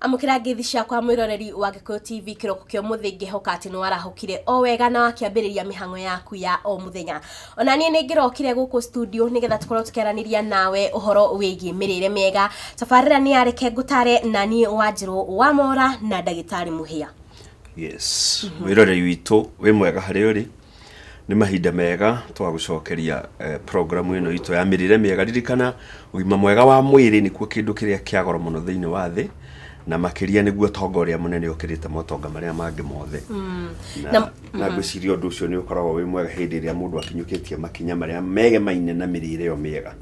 amukira ngithi ciakwa mwiroreri wa gikuyu tv kiroko kio muthi ngihoka ati ni warahukire o wega na wakiambiriria mihango yaku ya o muthenya ona nie ni ngirokire guku studio nigetha tukorwo tukiaraniria nawe uhoro wigie mirire miega tabarira ni yareke ngutare na nie wanjiru wa mora na ndagitari muhia yes wĩrorei witũ wĩ mwega harĩa ũrĩ nĩ mahinda mega twa gũcokeria eh, programu ĩno itũ ya mĩrĩre mĩega ririkana ũgima mwega wa mwĩrĩ nĩkuo kĩndũ kĩrĩa kĩa goro mũno thĩinĩ wa thĩ na makĩria nĩguo tonga ũrĩa mũnene ũkĩrĩte motonga marĩa mangĩ mothe na, na ngwĩciria ũndũ ũcio nĩ ũkoragwo wĩ mwega hĩndĩ ĩrĩa mũndũ akinyũkĩtie makinya marĩa megemaine na mĩrĩre ĩyo mĩega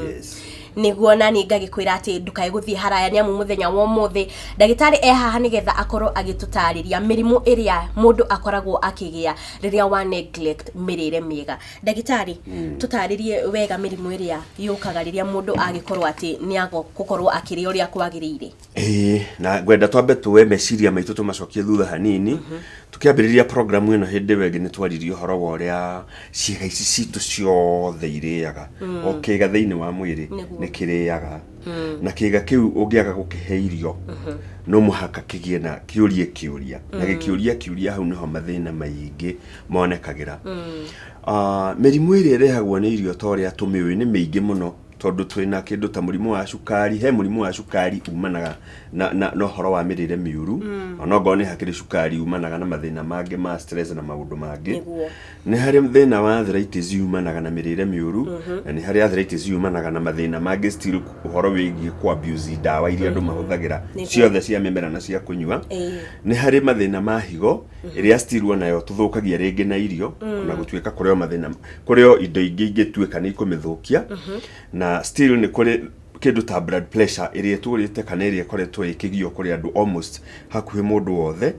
yes. nĩguo nani ngagĩkwĩra atĩ ndũkae gũthiĩ haraya nĩ amu mũthenya wa ũmũthĩ ndagĩtarĩ e haha nĩgetha akorwo agĩtũtarĩria mĩrimũ ĩrĩa mũndũ akoragwo akĩgĩa rĩrĩa wa neglect mĩrĩre mĩega ndagĩtarĩ tũtarĩrie wega mĩrimũ ĩrĩa yũkaga rĩrĩa mũndũ agĩkorwo atĩ nĩ ago gũkorwo akĩrĩa ũrĩa kwagĩrĩire Ĩĩ, na ngwenda twambe tuoe meciria maitũ tũmacokie thutha hanini tũkĩambĩrĩria programu ĩno hĩndĩ ĩyo ĩngĩ nĩ twaririe ũhoro wa ũrĩa ciĩga ici citũ ciothe irĩaga o kĩga thĩinĩ wa mwĩrĩ Nĩguo. nĩ kĩrĩaga na kĩga kĩu ũngĩaga gũkĩhe irio no mũhaka kĩgĩe na kĩũrie kĩũria na gĩkĩũria kĩũria hau nĩho mathĩna maingĩ monekagĩra Ah, mĩrimũ ĩrĩa ĩrehagwo nĩ irio ta ũrĩa tũmĩũĩ nĩ mĩingĩ mũno tondũ twĩna kĩndũ ta mũrimũ wa cukari he mũrimũ wa cukari umanaga na, na, na ũhoro wa mĩrĩre mĩũru mm. onokorwo nĩ hakĩrĩ cukari umanaga na mathĩna mangĩ ma stress na maũndũ mangĩ Nĩguo. nĩ harĩ thĩna wa arthritis umanaga na mĩrĩre mĩũru mm-hmm. na nĩ harĩ arthritis umanaga na mathĩna mangĩ still ũhoro wĩgiĩ ku abuse ndawa iria andũ mm-hmm. mahũthagĩra Nĩguo. ciothe cia mĩmera na cia kũnyua Ĩĩ. nĩ harĩ mathĩna ma higo ĩrĩa still onayo tũthũkagia rĩngĩ na irio na gũtuĩka kũrĩ o mathĩna kũrĩ o indo ingĩ ingĩtuĩka nĩ ikũmĩthũkia na still nĩ kũrĩ kĩndũ ta blood pressure ĩrĩa ĩtũrĩte kana ĩrĩa ĩkoretwo ĩkĩgio kũrĩ andũ almost hakuhĩ mũndũ wothe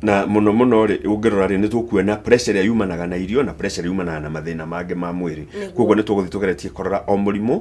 na mũno mũno rĩ ũngĩrora rĩ nĩ tũkuona pressure ĩrĩa yumanaga na irio na pressure ĩrĩa yumanaga na mathĩna mangĩ ma mwĩrĩ Nĩguo. koguo nĩ tũgũthiĩ tũgeretie kũrora o mũrimũ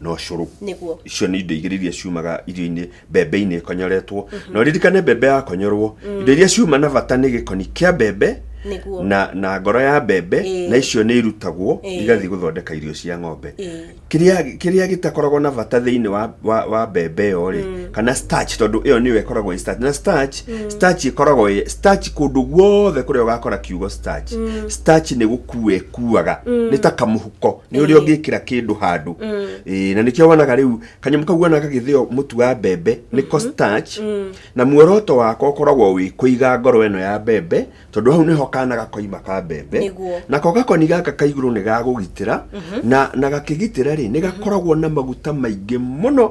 na ũcũrũ Nĩguo. icio nĩ indo igĩrĩ iria ciumaga irio-inĩ mbembe-inĩ ĩkonyoretwo na ũririkane mbembe yakonyorwo indo iria ciuma na bata nĩ gĩkoni kĩa mbembe Nĩguo. na, na ngoro ya mbembe Ĩĩ. na icio nĩ irutagwo Ĩĩ. igathiĩ gũthondeka irio cia ng'ombe Ĩĩ. kĩrĩa kĩrĩa gĩtakoragwo na bata thĩinĩ wa, wa, wa mbembe ĩyo rĩ kana starch tondũ ĩyo nĩyo ĩkoragwo ĩ starch na starch starch ĩkoragwo ĩ starch kũndũ guothe kũrĩa ũgakora kiugo starch starch nĩ gũkua ĩkuaga nĩ ta kamũhuko nä å rä a å ngä kä ra kä ndå handå na nä kä o wanaga rä u kanyamå kau wanaga gagä thä o må tu wa mbembe nä ko starch. na muoroto wako ũkoragwo wĩ kũiga ngoro ĩno ya mbembe tondå hau nĩho kana gakoima ka mbembe Nĩguo. nako gakoni gaka ka igũrũ nĩ gagũgitĩra na, na gakĩgitĩra rĩ nĩ gakoragwo na maguta maingĩ mũno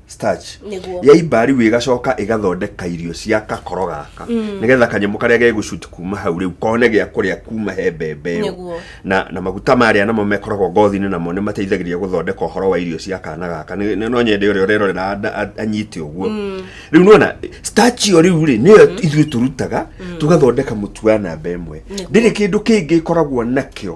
starch Nĩguo. ya imba rĩu ĩgacoka ĩgathondeka irio cia kakoro gaka nĩgetha kanyamũ karĩa gegũcuti kuma hau rĩu kone gĩa kũrĩa kuma he mbembe ĩyo Nĩguo. na, na maguta marĩa namo mekoragwo ngothi-inĩ namo nĩ mateithagĩrĩria gũthondeka ũhoro wa irio cia kana gaka Nĩ- nĩ- no nyende ũrĩa ũrerorera anda- a- anyite ũguo rĩu nona starch ĩyo rĩu rĩ nĩyo ithuĩ tũrutaga tũgathondeka mũtu wa namba ĩmwe ndĩrĩ kĩndũ kĩngĩ ĩkoragwo nakĩo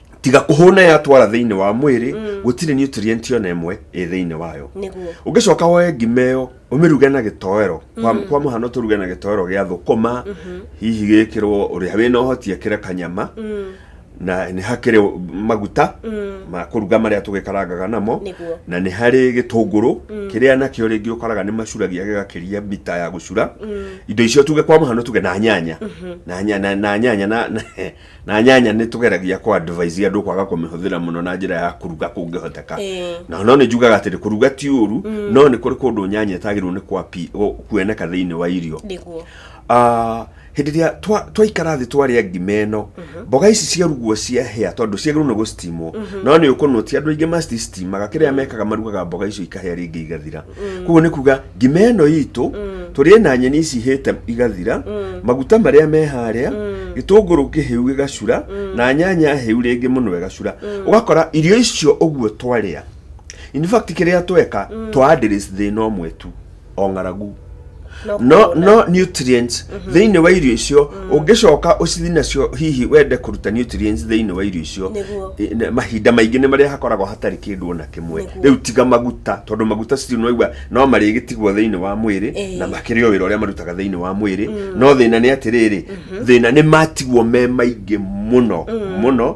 tiga kũhũna yatwara thĩinĩ wa mwĩrĩ gũtirĩ nutrient ona ĩmwe ĩ thĩinĩ wayo nĩguo ũngĩcoka woe ngima ĩyo ũmĩruge na gĩtoero kwa, kwa mũhano tũruge na gĩtoero gĩa thũkũma hihi gĩkĩrwo ũrĩa wĩna ũhoti ekĩre kanyama na nĩ hakĩrĩ maguta ma kũruga marĩa tũgĩkarangaga namo Nĩguo. na nĩ harĩ gĩtũngũrũ kĩrĩa nakĩo rĩngĩ ũkoraga nĩ macuragia gĩgakĩria mita ya gũcura indo icio tuge kwa mũhano tuge na nyanya na, nya- na, na nyanya na, na na nyanya nä tå geragia kå advise andå kwaga kå mä hå thä ra må no na njä ra ya kå ruga kå ngä hoteka Ĩĩ. na no nä njugaga atä rä kå ruga ti å ru no nä kå rä kå ndå nyanya ĩtagä rwo nä kwapi- gå- kuoneka thä inä wa irio nĩguo Ah, hĩndĩ ĩrĩa twa- twaikara thĩ twarĩa ngima ĩno mboga ici ciarugwo ciahĩa tondũ ciagĩrĩirwo nĩ gũcitimwo no nĩ ũkũnũ ti andũ aingĩ macitimaga kĩrĩa mekaga marugaga mboga icio ikahĩa rĩngĩ igathira koguo nĩ kuga ngima ĩno itũ tũrĩe na nyeni ici ihĩte igathira maguta marĩa me harĩa gĩtũngũrũ kĩhĩu gĩgacura na nyanya hĩu rĩngĩ mũno ĩgacura ũgakora irio icio ũguo twarĩa in fact kĩrĩa tweka twa address thĩna ũmwe tu o ng'aragu no no nutrients mhm. thĩinĩ wa irio icio mm. ũngĩcoka ũcithi nacio hihi wende kũruta nutrients thĩinĩ wa irio icio mahinda maingĩ nĩ marĩa hakoragwo hatarĩ kĩndũ ona kĩmwe rĩu tiga maguta tondũ maguta citirĩ noigua no marĩgĩtigwo thĩinĩ wa mwĩrĩ na makĩrĩ o wĩra ũrĩa marutaga thĩinĩ wa mwĩrĩ mm. no thĩna nĩ atĩrĩrĩ mhm. thĩna nĩ matigwo me maingĩ mũno mm. mũno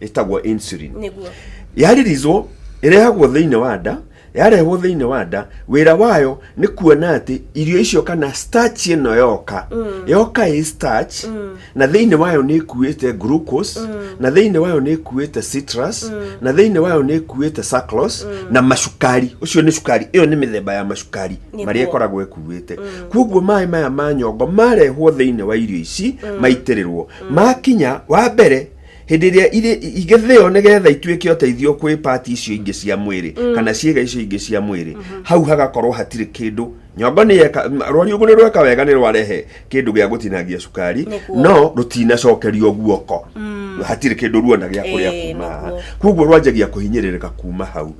ĩtagwo insulin nĩguo yaririzwo ĩrehagwo thĩinĩ wa nda yarehwo thĩinĩ wa nda wĩra wayo nĩ kuona atĩ irio icio kana starch ĩno yoka yoka ĩ starch na thĩinĩ wayo nĩ ĩkuĩte glucose na thĩinĩ wayo nĩ ĩkuĩte citrus na thĩinĩ wayo nĩ ĩkuĩte sucrose na macukari ũcio nĩ cukari ĩyo nĩ mĩthemba ya macukari Nĩguo. marĩa ĩkoragwo ĩkuĩte kwoguo maĩ maya ma nyongo marehwo thĩinĩ wa irio ici maitĩrĩrwo makinya wa mbere hĩndĩ ĩrĩa irĩ- igĩthĩo nĩgetha ituĩke ũteithio kwĩ pati icio ingĩ cia mwĩrĩ kana ciĩga icio ingĩ cia mwĩrĩ hau hagakorwo hatirĩ kĩndũ nyongo nĩ yeka m- rwariũngũ nĩ rweka wega nĩ rwarehe kĩndũ gĩa gũtinangia cukari Nĩguo. no rũtinacokerio guoko hatirĩ kĩndũ ruona gĩa kũrĩa Ĩĩ, kuma haha. nĩguo. kwoguo rwanjagia kũhinyĩrĩrĩka kuma hau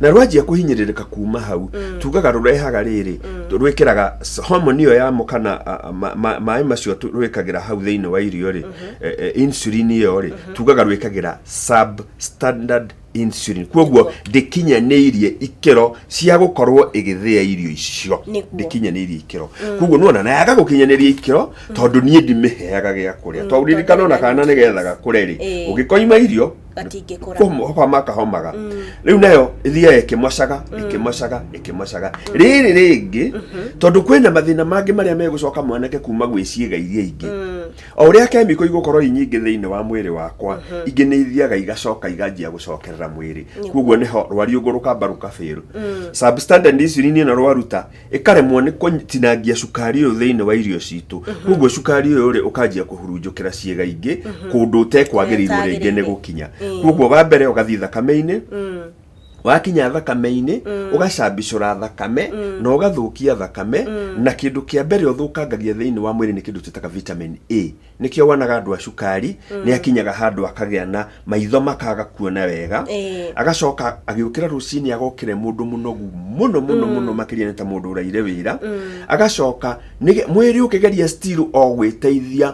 na rwanjia kũhinyĩrĩrĩka kuma hau tugaga rũrehaga rĩrĩ rwĩkĩraga s- homoni ĩyo yamo kana a- a- ma- ma- maĩ macio tu- rwĩkagĩra hau thĩinĩ wa irio rĩ eh, eh, insulin ĩyo rĩ tugaga rwĩkagĩra substandard insulin kwoguo ndĩkinyanĩirie ikĩro cia gũkorwo ĩgĩthĩa irio icio Nĩguo. ndĩkinyanĩirie ikĩro kwoguo nona nayaga gũkinyanĩria ikĩro tondũ niĩ ndimĩheaga gĩa kũrĩa tondũ ririkana ona kana nĩ getha gakũre rĩ Ĩĩ. ũngĩkoima irio gatingĩkũra homa kahomaga rĩu nayo ĩthiaga ĩkĩmocaga ĩkĩmocaga ĩkĩmocaga rĩrĩ rĩngĩ tondũ kwĩna mathĩna mangĩ marĩa megũcoka mwanake kuma gwĩ ciĩga iria ingĩ o ũrĩa kemiko igũkorwo inyingĩ thĩinĩ wa mwĩrĩ wakwa ingĩ nĩ ithiaga igacoka iganjia gũcokerera mwĩrĩ kuoguo nĩho rwariũngũ rũkamba rũkabail substandard insulin ĩno rwaruta ĩkaremwo nĩ kũtinangia cukari ũyũ thĩinĩ wa irio citũ kuoguo cukari ũyũ rĩ ũkanjia kũhurunjũkĩra ciĩga ingĩ kũndũ ũtekwagĩrĩirwo rĩngĩ nĩ gũkinya kuoguo wa mbere ũgathiĩ thakame-inĩ wakinya thakame-inĩ ũgacambicũra thakame na ũgathũkia thakame na kĩndũ kĩa mbere ũthũkangagia thĩinĩ wa mwĩrĩ nĩ kĩndũ twĩtaga vitamin A nĩkĩo wonaga andũ a cukari nĩ akinyaga handũ akagĩa na maitho makaga kuona wega Ĩĩ. agacoka agĩũkĩra rũcinĩ agokĩre mũndũ mũnogu mũno mũno mũno makĩria nĩ ta mũndũ ũraire wĩra agacoka nĩge- mwĩrĩ ũkĩgeria still o gwĩteithia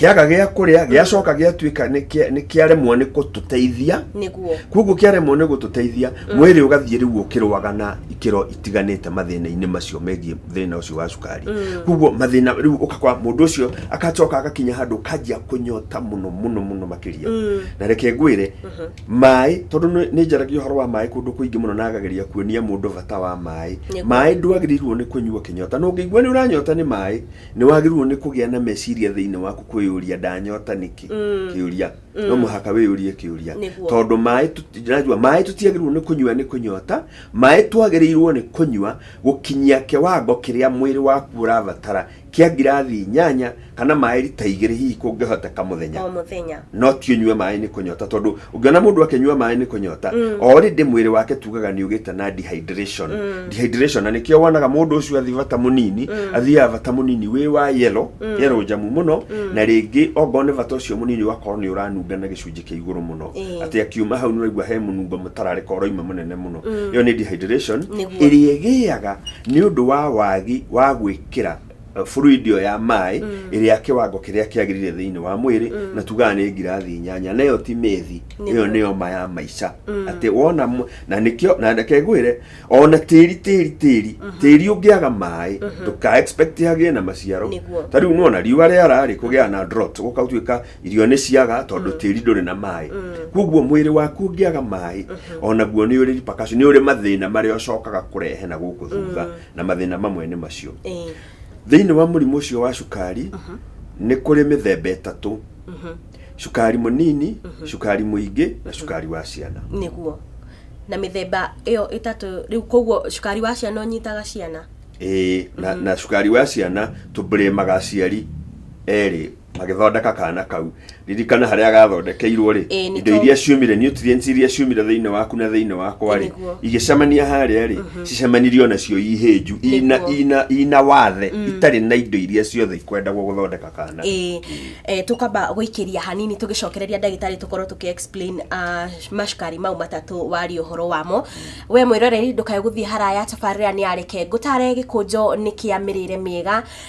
kĩaga gĩa kũrĩa gĩacoka gĩatuĩka nĩ kĩa- nĩ kĩaremwo nĩ gũtũteithia nĩguo koguo kĩaremwo nĩ gũtũteithia mwĩrĩ ũgathiĩ rĩu ũkĩrũaga na ikĩro itiganĩte mathĩna-inĩ macio megiĩ thĩna ũcio wa cukari koguo mathĩna rĩu ũkakora mũndũ ũcio akacoka agakinya handũ kanjia kũnyota mũno mũno mũno makĩria na reke ngwĩre maĩ tondũ nĩ- nĩ njaragia ũhoro wa maĩ kũndũ kũingĩ mũno na agageria kuonia mũndũ bata wa maĩ Nĩguo. maĩ ndwagĩrĩirwo nĩ kũnyua kĩnyota na ũngĩigua nĩ ũranyota nĩ maĩ Nĩ wagĩrĩirũo nĩ kũgĩa na meciria thĩinĩ waku kwĩyũria, Ndanyota nĩkĩ? Kĩũria. No mũhaka wĩyũrie kĩũria. Nĩguo. Tondũ maĩ, ndĩraigua, maĩ tũtiagĩrĩirũo nĩ kũnyua nĩ kũnyota, maĩ twagĩrĩirũo nĩ kũnyua gũkinyia kĩwango kĩrĩa mwĩrĩ waku ũrabatara kĩa ngirathi inyanya kana maĩ rita igĩrĩ hihi kũngĩhoteka mũthenya. O mũthenya. no ti ũnyue maĩ nĩ kũnyota tondũ ũngĩona mũndũ akĩnyua maĩ nĩ kũnyota mm. already mwĩrĩ wake tugaga nĩ ũgĩte na dehydration mm. dehydration na nĩkĩo wonaga mũndũ ũcio athi bata mũnini mm. athiaga bata mũnini wĩ wa yellow mm. yellow njamu mũno mm. na rĩngĩ ongorwo nĩ bata ũcio mũnini ũgakorwo nĩ ũranunga na gĩcunjĩ kĩa igũrũ mũno mm. atĩ akiuma hau nĩ ũraigua he mũnungo mũtararĩka ũroima mũnene mũno mm. ĩyo mm. nĩ dehydration ĩrĩa ĩgĩaga nĩ ũndũ wa wagi wa gwĩkĩra uh, fluid ĩyo ya maĩ ĩrĩ ya kĩwango kĩrĩa kĩagĩrĩire thĩinĩ wa mwĩrĩ na tugaga nĩ ngirathi inyanya na ĩyo ti methi Nĩ ĩyo nĩ oma ya maica atĩ wona mũ- na nĩkĩo na reke ngwĩre ona tĩri tĩri tĩri tĩri ũngĩaga maĩ ndũka expect agĩe na maciaro Nĩguo. ta rĩu nona riũa rĩara rĩ kũgĩa na drought gũka gũtuĩka irio nĩ ciaga tondũ tĩri ndũrĩ na maĩ kwoguo mwĩrĩ waku ũngĩaga maĩ onaguo nĩ ũrĩ repercussion, nĩ ũrĩ mathĩna marĩa ũcokaga kũrehe na gũkũ thutha na mathĩna mamwe nĩ macio Ĩĩ. thĩinĩ wa mũrimũ ũcio wa cukari nĩ kũrĩ mĩthemba ĩtatũ cukari mũnini cukari mũingĩ na cukari wa ciana nĩguo na mĩthemba ĩyo ĩtatũ rĩu koguo cukari wa ciana ũnyitaga ciana Ĩĩ, na, na cukari wa ciana tũbrĩmaga aciari erĩ magĩthondeka kana kau ririkana harĩa gathondekeirwo rĩ Ĩĩ, nĩ indo to- iria ciumire nutrients iria ciumire thĩinĩ waku na thĩinĩ wakwa rĩ Nĩguo. igĩcemania harĩa rĩ cicemanirio nacio ihĩnju ina, Nĩguo. ina, ina wathe itarĩ na indo iria ciothe ikwendagwo gũthondeka kana ä tå kamba gå ikä ria hanini tå gä cokereria ndagätarä tå korwo tå kä explain ah, macukari mau matatå waria å horo wamo we mwä roreri ndå kae gå thiä haraya tabarä ra nä yareke ngå tare gä kå njo nä kä a mä rä re mä ega